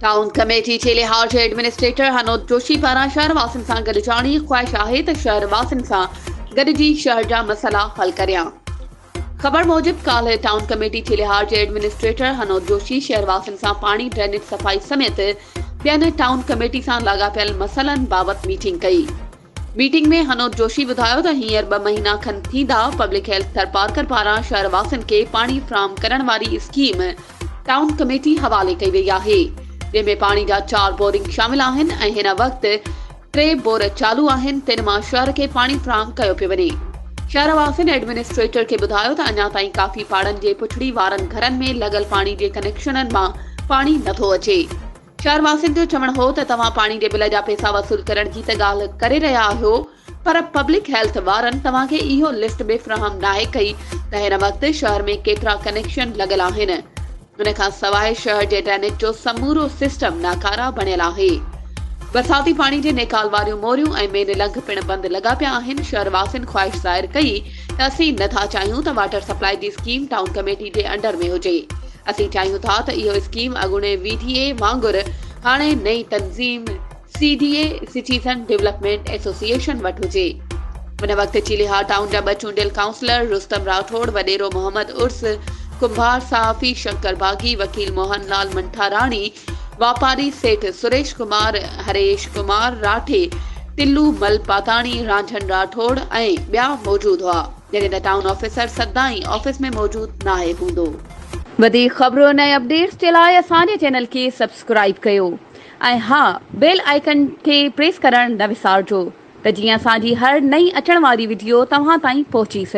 Town committee جي لحاظ جي ايڊمنسٽريٽر هنود جوشي پاران شهر واسين سان گڏ جاڻي خواهش آهي ته شهر واسين سان گڏجي شهر جا مسئلا حل ڪريان خبر موجب ڪالهه ٽائون ڪميٽي جي لحاظ جي ايڊمنسٽريٽر هنود جوشي شهر واسين سان پاڻي ڊرينيج صفائي سميت ٻين ٽائون ڪميٽي سان لاڳاپيل مسئلن بابت ميٽنگ ڪئي ميٽنگ ۾ هنود جوشي ٻڌايو ته هينئر ٻه مهينا کن ٿيندا پبلڪ هيلٿ ٿرپارڪر پاران شهر واسين کي پاڻي فراهم ڪرڻ واري اسڪيم ٽائون ڪميٽي حوالي ڪئي وئي آهي جنهن ۾ پاڻي جا چار بورنگ شامل آهن ۽ هن وقت ٽي بور چالو آهن تن مان شهر کي پاڻي فراهم ڪيو پيو وڃي شهر واسين ايڊمنسٽريٽر کي ٻڌايو ته اڃا تائين ڪافي پاڙن جي پڇڙي وارن گهرن ۾ لڳل پاڻي جي ڪنيڪشنن مان پاڻي نٿو اچي. شهر واسين جو چوڻ هو ته توهان پاڻي جي بل جا پيسا وصول ڪرڻ جي ته ڳالهه ڪري رهيا آهيو پر پبلڪ هيلٿ وارن توهان کي اهو لسٽ به فراهم ناهي ڪئي ته هن وقت شهر ۾ ڪيترا ڪنيڪشن لڳل آهن ان کان سواء شهر جي ڊرينيج جو سمورو سسٽم ناڪاره بڻيل آهي برساتي پاڻي جي نيڪال واريون موريون ۽ مين لنگهه پڻ بند لڳا پيا آهن شهر واسين خواهش ظاهر ڪئي ته اسين نٿا چاهيون ته واٽر سپلاء جي اسڪيم ٽائون ڪميٽي جي انڊر ۾ هجي اسين چاهيون ٿا ته اهو اسڪيم اڳوڻي وي ڊي اي وانگر هاڻي نئين تنظيم C D A, citizen development association, وٽ هجي. ان وقت چيليهار ٽائون جا ٻه چونڊيل ڪائونسلر رستم راٺوڙ، وڏيرو محمد عرس، ڪنڀار صحافي شنڪر باغي، وڪيل موهن لال منٺاراڻي، واپاري سيٺ سريش ڪمار، هريش ڪمار راٺي، ٽلو مل پاتاڻي، رانجهڻ راٺوڙ ۽ ٻيا موجود هئا، جڏهن ته ٽائون آفيسر سدائين آفيس ۾ موجود ناهي هوندو. وڌيڪ خبرن ۽ اپڊيٽس جي لاء اسان جي چينل کي سبسڪرائيب ڪيو ۽ ها بيل آئيڪن کي پريس ڪرڻ نه وسارجو ته جيئن اسان جي هر نئين اچڻ واري وڊيو توهان تائين پهچي سگهي.